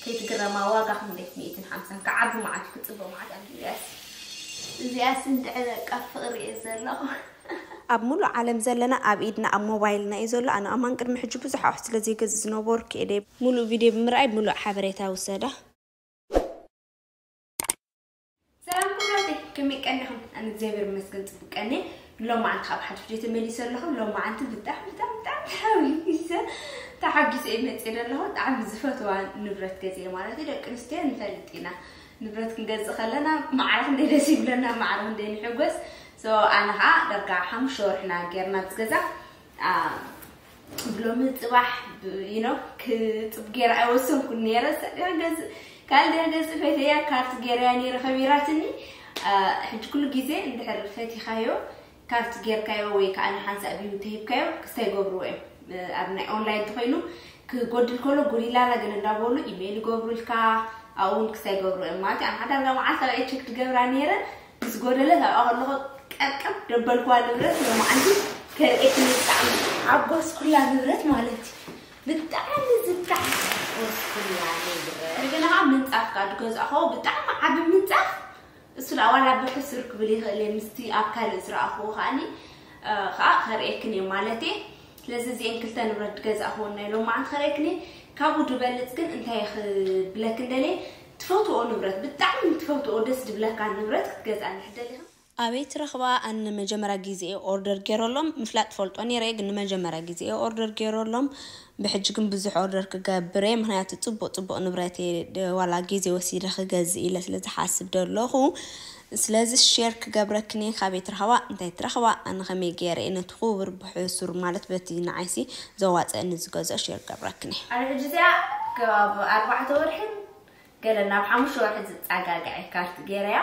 ከይትግረማ ዋጋ ክንደይ ሚእትን ሓምሳን ክዓቢ መዓት እዩ ክጽብቅ መዓት ኣንድዩ እዚኣስ እዚኣስ እንድዒ በቃ ፍቅሪ እየ ዘለኩ። ኣብ ሙሉእ ዓለም ዘለና ኣብ ኢድና ኣብ ሞባይልና እዩ ዘሎ ኣነ ከማን ቅድሚ ሕጂ ብዙሕ ኣቁሑት ስለ ዘይገዝእ ዝነበርኩ እየ ደይ ሙሉእ ቪድዮ ብምርኣይ ሙሉእ ሓበሬታ ውሰዳ። ሰላም ክብራተይ ከመይ ቀኒኹም? ኣነ እግዚኣብሔር ይመስገን ፅቡቅ ቀኒ ሎማዓንቲ ካብ ሓድሽ ድየ ተመሊሰ ኣለኹ ሎማዓንቲ ብጣዕሚ ብጣዕሚ ብጣዕሚ ተሓዊሰ ተሓጊሰ እየ መፅእ ዘለኹ ብጣዕሚ ዝፈትዋ ንብረት ገዚየ ማለት እዩ ደቂ ኣንስትዮ ንፈልጥ ኢና ንብረት ክንገዝእ ከለና ማዕረ ክንደይ ደስ ይብለና ማዕረ ክንደይ ንሕጎስ ኣነ ከዓ ዳርጋ ሓሙሽተ ወርሕና ጌርና ዝገዛ ብሎሚ ፅባሕ ዩኖ ክፅብ ገይረ ኣይወሰንኩን ነይረ ካልዲያ ገፅ ፈትያ ካርት ገይረያ ነይረ ከቢራትኒ ሕጂ ኩሉ ግዜ እንድሕር ፈቲኻዮ ካርት ጌርካዮ ወይ ከዓ ንሓንሳእ ቢዩ ተሂብካዮ ክስታይ ይገብርዎ እዮም ኣብ ናይ ኦንላይን ተኮይኑ ክጎድል ከሎ ጎዲላላ ግን እንዳበሉ ኢሜይል ይገብሩልካ ኣብኡውን ክስታይ ይገብርዎ እዮም ማለት ኣብ ሓዳር መዓልታዊ ቼክ ትገብራ ነይረ ዝጎደለ ናብኣ ከለኹ ቀቀብ ደበልኩዋ ንብረት ሎማዓንቲ ከርእየኪ ብጣዕሚ ሓጎስኩላ ንብረት ማለት እዩ ብጣዕሚ ዝትሓጎስኩላ ንብረት እንደገና ከዓ ምንፃፍ ከዓ ዝገዛእኹዎ ብጣዕሚ ዓብ ምንፃፍ እሱ ዳኣ ዋላ ብሕሱር ክብል ይኽእል እየ ምስቲ ኣብ ካልእ ዝረኣኹዎ ከዓኒ ከዓ ከርእየክን እየ ማለት እየ ስለዚ እዚአን ክልተ ንብረት ዝገዛእኹዎ ናይ ሎማዓንቲ ከርእየክን እየ ካብኡ ድበልፅ ግን እንታይ ክብለክን ደልየ ትፈትዎኦ ንብረት ብጣዕሚ ትፈትዎኦ ደስ ድብለካ ንብረት ክትገዝኣ እንድሕር ደሊኻ። ኣበይ ትረኽባ ኣን ንመጀመርያ ግዜ እየ ኦርደር ጌሮሎም ምፍላጥ እፈልጦ ኔረ እየ ግን ንመጀመርያ ግዜ እየ ኦርደር ጌሮሎም ብሕጂ ግን ብዙሕ ኦርደር ክገብር እየ ምኽንያቱ ጽቡቅ ጽቡቅ ንብረት እየ ዋላ ግዜ ወሲደ ክገዝእ ኢለ ስለ ዝሓስብ ደለኹ ስለዚ ሼር ክገብረክኒ ካበይ ትረኽባ እንታይ ትረኽባ ኣነ ከመይ ገይረ እየ ነቲ ኩቡር ብሑሱር ማለት በቲ ንዓይሲ ዘዋጽኣኒ ዝገዝኦ ሼር ክገብረክኒ። ኣነ ሕጂ እዚኣ ከባቢ ኣርባዕተ ወርሕን ገለን ናብ ሓሙሽተ ወርሒ ዝጻጋገዐ እየ ካርት ገይረያ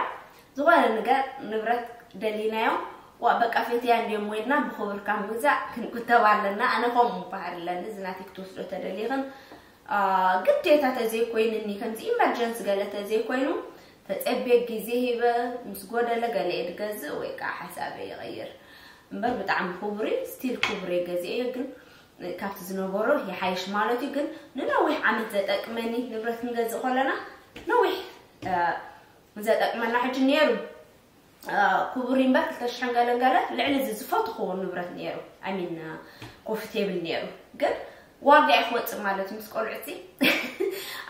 ዝኾነ ንገር ንብረት ደሊናዮም ዋእ በቃ ፈትያ እንድዮም ወይልና ብኹብር ካብ ምግዛእ ክንቁተብ ኣለና ኣነ ከምኡ ባህሪ ኣለኒ እዚ ናተይ ክትወስዶ ተደሊኽን ግዴታ ተዘይኮይንኒ ከምዚ ኢመርጀንሲ ገለ ተዘይኮይኑ ተጸብየ ግዜ ሂበ ምስ ጎደለ ገለየ ድገዝእ ወይ ከኣ ሓሳበይ ይቕይር እምበር ብጣዕሚ ኩቡር እዩ ስቲል ኩቡር እየ ገዚኤዮ ግን ካብቲ ዝነበሮ ይሓይሽ ማለት እዩ ግን ንነዊሕ ዓመት ዘጠቅመኒ ንብረት ክንገዝእ ከለና ነዊሕ ዘጠቅመና ሕጂ ነይሩ ኩቡር ኢምበር ክልተ ሽሕን ገለን ገለ ልዕሊ እዚ ዝፈትኹዎ ንብረት ነይሩ ኣይ ሚን ኮፊ ቴብል ነይሩ ግን ዋጋ እዩ ክወፅእ ማለት እዩ ምስ ቆልዑቲ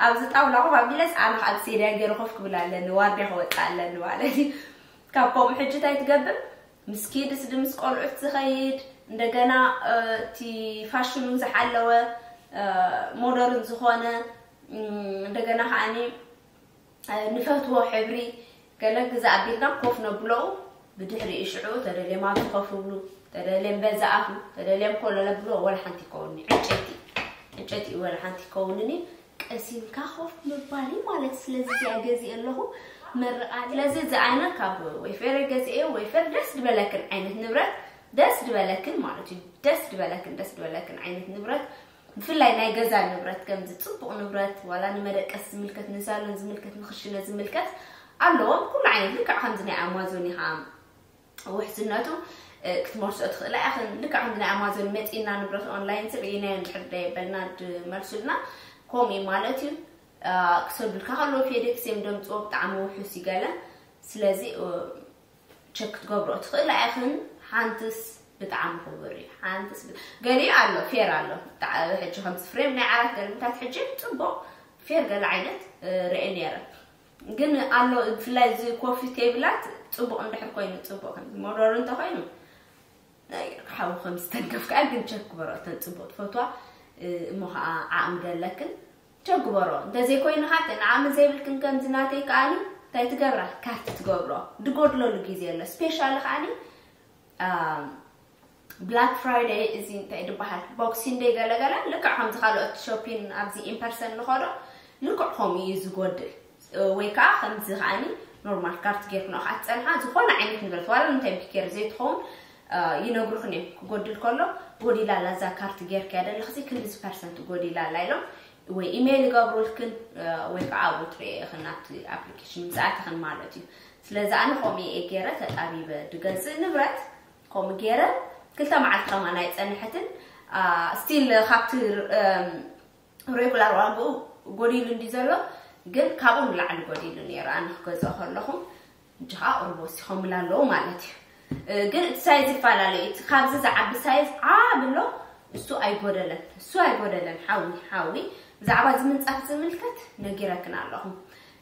ኣብዚ ጣውላ ኮፍ ኣቢለስ ኣነ ከዓ ብሴድያ ገይረ ኮፍ ክብል ኣለኒ ዋጋ ክወፅእ ኣለኒ ማለት እዩ ካብ ከምኡ ሕጂ እንታይ ትገብር ምስ ኪድስ ድ ምስ ቆልዑት ዝኸይድ እንደገና እቲ ፋሽኑ ዝሓለወ ሞደርን ዝኾነ እንደገና ከዓኒ ንፈትዎ ሕብሪ ገለ ግዘ ኣቢልና ኮፍ ነብሎኡ ብድሕሪኡ ሽዑ ተደልዮም ኣብዙ ኮፍ ይብሉ ተደልዮም በዛ ኣፉ ተደልዮም ኮሎ ነብልዎ ወላ ሓንቲ ይከውንኒ ዕንጨይቲ ዕንጨይቲ ወላ ሓንቲ ይከውንኒ ቀሲምካ ኮፍ ምባል እዩ ማለት ስለዚ እዚኣ ገዚእ ኣለኹ መርቓ ስለዚ እዚ ዓይነት ካብ ወይፌር ገዚኤ ወይፌር ደስ ዝበለክን ዓይነት ንብረት ደስ ዝበለክን ማለት እዩ ደስ ዝበለክን ደስ ዝበለክን ዓይነት ንብረት ብፍላይ ናይ ገዛ ንብረት ከምዚ ጽቡቕ ንብረት ዋላ ንመደቀስ ዝምልከት ንሳሎን ዝምልከት ንክሽነ ዝምልከት ኣለዎም ኩሉ ዓይነት ልክዕ ከምዚ ናይ ኣማዞን ኢኻ ውሕስነቱ ክትመልሶ ትኽእላ ኢኽን ልክዕ ከምዚ ናይ ኣማዞን መጺና ንብረት ኦንላይን ሰብ እየናዮ እንድሕር ደየበልና ድመልሱልና ከምኡ እዩ ማለት እዩ ክሰዱልካ ከለዉ ፌዴክስ እዮም ደምፅዎ ብጣዕሚ ውሑስ ይገለ ስለዚ ቸክ ክትገብሮ ትኽእል ኣይኽን ሓንትስ ብጣዕሚ ክቡር እዩ ሓንትስ ገሊኡ ኣሎ ፌር ኣሎ ሕጂ ከምዚ ፍሬም ናይ ዓራት ገርምታት ሕጂ ፅቡቅ ፌር ገለ ዓይነት ርኤ ነይረ ግን ኣሎ ብፍላይ እዚ ኮፊ ቴብላት ፅቡቅ እንድሕር ኮይኑ ፅቡቅ ከምዚ ሞዶር እንተኮይኑ ሓዊ ከም ዝተንከፍ ከዓ ግን ቸክ ግበሮ እተን ፅቡቅ ትፈትዋ እሞ ከዓ ዓቅሚ ደለክን ቸግበሮ እንተዘይኮይኑ ሓጥእ ዓቅሚ ዘይብልክን ከምዚ ናተይ ከኣኒ እንታይ ትገብራ ካርት ትገብሮ ድጎድለሉ ግዜ ኣሎ ስፔሻሊ ከኣኒ ብላክ ፍራይደይ እዚ እንታይ ድበሃል ቦክሲን ደይ ገለገለ ልክዕ ከምዚ ካልኦት ሾፒን ኣብዚ ኢምፐርሰን ንኸዶ ልክዕ ከምኡ እዩ ዝጎድል ወይ ከኣ ከምዚ ከኣ ኖርማል ካርት ጌርክንኦ ከኣ ትጸንሓ ዝኾነ ዓይነት ንብረት ዋላ እንታይ ቢኬር ዘይትኸውን ይነግሩኽን እዮም ክጎድል ከሎ ጎዲላ ኣላ እዛ ካርት ጌርክያ ደለኽሲ ክንዲዚ ፐርሰንት ጎዲላ ኣላ ኢሎም ወይ ኢሜይል ይገብሩልክን ወይ ከዓ ኣብኡ ትርእየኽን ኣብቲ ኣፕሊኬሽን ምስ ኣተኽን ማለት እዩ ስለዚ ኣነ ከምኡ እየ ገይረ ተጣቢበ ድገዝእ ንብረት ከምኡ ገይረ ክልተ መዓልቲ ከማን ኣይጸንሐትን ስቲል ካብቲ ሬጉላር ዋግኡ ጎዲሉ እንድዩ ዘሎ ግን ካብኡ ንላዕሊ ጎዲሉ ነይሩ ኣነ ክገዝኦ ከለኹ ሕጂ ከዓ ቁሩብ ወሲኾምላ ኣለዉ ማለት እዩ ግን እቲ ሳይዝ ይፈላለዩ እቲ ካብዚ ዝዓቢ ሳይዝ ዓብ ኣሎ እሱ ኣይጎደለን እሱ ኣይጎደለን ሓዊ ሓዊ ብዛዕባ እዚ ምንፃፍ ዝምልከት ነጊረክን ኣለኹ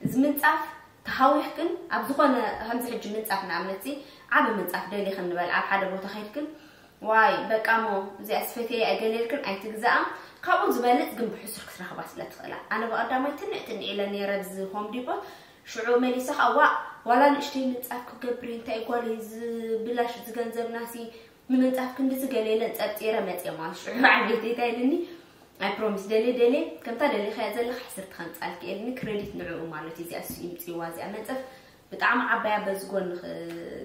እዚ ምንፃፍ ተሃዊኽ ግን ኣብ ዝኾነ ከምዚ ሕጂ ምንፃፍ ንኣብነት ዓብ ምንፃፍ ደሊኽን ንበል ኣብ ሓደ ቦታ ከይድክን ዋይ በቃ እሞ እዚኣስ ፈትየያ እየ ገለ ኢልክን ኣይትግዝኣ ካብኡ ዝበልጽ ግን ብሕሱር ክትረኽባ ስለ ትኽእላ ኣነ ብቐዳማይ ትንዕ ትንዕ ኢለ ነይረ ብዚ ሆም ዲፖት ሽዑ መሊሰ ከኣ ዋእ ዋላ ንእሽተይ ምንጻፍ ክገብሪ እንታይ ጓለይ ዝብላሽ ዝገንዘብናሲ ንምንጻፍ ክንድዚ ገለ ኢለን ጸርጺረ መጽየ ማለት ሽዑ በዓል ቤተይ እንታይ ኢልኒ ኣይ ፕሮሚስ ደልየ ደልየ ከምታ ደሊኻያ ዘለካ ሕስርቲ ከምጻልኪ ኢልኒ ክሬዲት ንዕኡ ማለት እዩ እዚኣ እሱ ይምጽዋ እዚኣ መንጸፍ ብጣዕሚ ዓባያ በዚ ጎኒ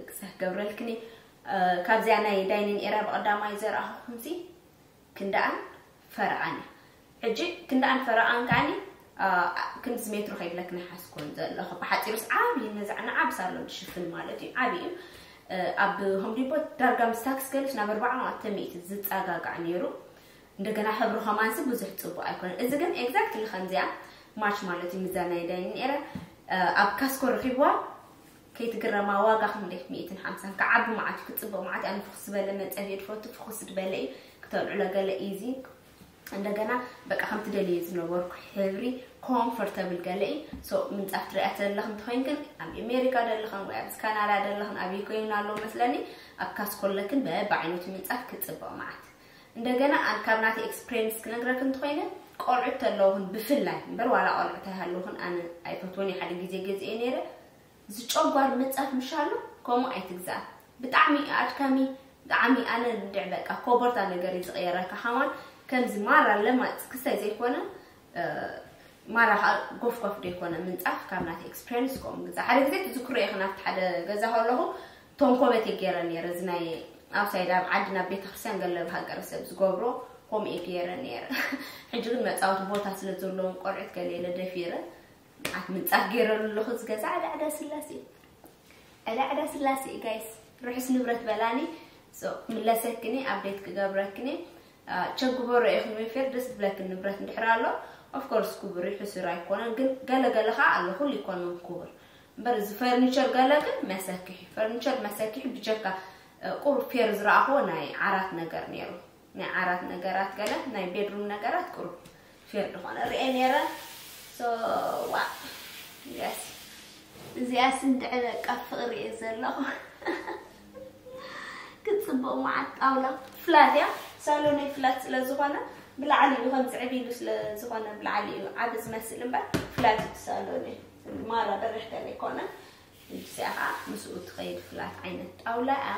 ክሰህ ገብረልክኒ ካብዚኣ ናይ ዳይኒን ኤርያ ብቐዳማይ ዘርኣኹኹምሲ ክንደኣን ፈረቓን እያ። ሕጂ ክንደኣን ፈረቓን ከኣኒ ክንድዚ ሜትሮ ከይብለክን ይሓስኮን ዘለኹ ብሓጺሩስ ዓብዪ ነዛ ንዓብ ሳሎን ዝሽፍን ማለት እዩ ዓብዪ እዩ ኣብ ሆምዲፖ ዳርጋ ምስ ታክስ ገለሽ ናብ ኣርባዓ ማዕተ ሚእቲ ዝጸጋጋዕ ነይሩ እንደገና ሕብሩ ከማንሲ ብዙሕ ጽቡቅ ኣይኮነን እዚ ግን ኤግዛክትሊ ከምዚኣ ማች ማለት እዩ ምዛ ናይ ዳይኒን ኤርያ ኣብ ካስኮ ረኺብዋ ከይትግረማ ዋጋ ክንደይ ሚኢትን ሓምሳን ክዓቢ መዓት እዩ ክጽብቕ መዓት ኣነ ፍኹስ ዝበለ መጸን እየ ድፈቱ ፍኹስ ድበለ እዩ ክተልዕሎ ገለ ኢዚ እንደገና በቃ ከምቲ ደልየ ዝነበርኩ ሕብሪ ኮምፎርተብል ገለ እዩ ሶ ምንጻፍ ትሪኣ ዘለኽ እንተኮይን ግን ኣብ ኣሜሪካ ደለኽን ወይ ኣብዚ ካናዳ ደለኽን ኣብይ ኮይኑ ኣሎ መስለኒ ኣብ ካስኮለክን በብዓይነቱ ምንጻፍ ክጽብቕ መዓት እንደገና ካብ ናተ ኤክስፕሬንስ ክነግረክ እንተኮይነ ቆልዑት ተለውኹን ብፍላይ እምበር ዋላ ቆልዑት ኣይሃለውኹን ኣነ ኣይፈትወን ሓደ ግዜ ገዝኤ ነይረ ዝጨጓር ምጻት ምሻሉ ከምኡ ኣይትግዛእ ብጣዕሚ እዩ ኣድካሚ ብጣዕሚ ኣነ እንድዕ በቃ ኮቦርታ ነገር እዩ ዝቕየረካ ሓዋን ከምዚ ማራ ለማጽ ክሳይ ዘይኮነ ማራ ከዓ ጎፍጓፍ ዶ ይኮነ ምንጻፍ ካብ ናት ኤክስፔሪንስ ከምኡ ግዛ ሓደ ግዜ ትዝክሮ ኢኺ ናብቲ ሓደ ገዛ ከለኹ ቶንኮበት እየ ገይረ ነይረ እዚ ናይ ኣብሳይድ ኣብ ዓዲ ናብ ቤተክርስትያን ገለብ ሃገረ ሰብ ዝገብሮ ከምኡ እየ ገይረ ነይረ ሕጂ ግን መፃወቲ ቦታ ስለ ዘለዎም ቆልዑት ገለ ኢለ ደፊረ ንቃት ምንጻፍ ገይረሉ ኣለኹ እዚ ገዛ ዕዳ ዕዳ ስላሴ ዕዳ ዕዳ ስላሴ ጋይስ ርሑስ ንብረት በላኒ ምለሰክኒ ኣብዴት ክገብረክኒ ቸግበሮ ኢኹም ፌር ደስ ብለክ ንብረት እንድሕር ኣሎ ኦፍኮርስ ክቡር እዩ ሕሱር ኣይኮነን ግን ገለ ገለ ከዓ ኣሎ ኩሉ ይኮነን ክቡር እምበር እዚ ፈርኒቸር ገለ ግን መሰክሒ ፈርኒቸር መሰክሒ ብጀካ ቁሩብ ፌር ዝረኣኹዎ ናይ ዓራት ነገር ነይሩ ናይ ዓራት ነገራት ገለ ናይ ቤድሩም ነገራት ቁሩብ ፌር ዝኾነ ርኤ ነይረ ሶ ዋእ እዚኣስ እዚኣስ እንድዒ በቃ ፍቕሪ እየ ዘለኹ ክትፅቡቕ መዓት ጣውላ ፍላት እያ ሳሎነይ ፍላት ስለ ዝኾነ ብላዕሊ እዩ ከምዚ ዕብ ኢሉ ስለ ዝኾነ ብላዕሊ እዩ ዓብ ዝመስል እምበር ፍላት እዩ ሳሎነይ ማራ በርሕ ገለ ኣይኮነን እዚኣ ከዓ ምስኡ ትኸይድ ፍላት ዓይነት ጣውላ እያ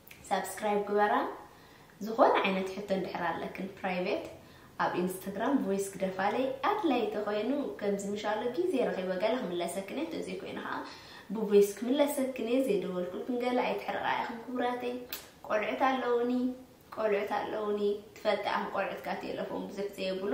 ሳብስክራይብ ግበራ ዝኾነ ዓይነት ሕቶ እንድሕር ኣለክን ፕራይቬት ኣብ ኢንስታግራም ቮይስ ግደፋለይ ኣድላይ ተኾይኑ ከምዚ ምሻሎ ግዜ ረኺበ ገለ ክምለሰክን እየ እንተዘይ ኮይኑ ከዓ ብቮይስ ክምለሰክን እየ ዘይደወልኩልክን ገለ ኣይትሕርቓ ኢኽን ክቡራተይ ቆልዑት ኣለውኒ ቆልዑት ኣለውኒ ትፈልጣ ኢኽን ቆልዑትካ ቴለፎን ብዙሕ ዘየብሉ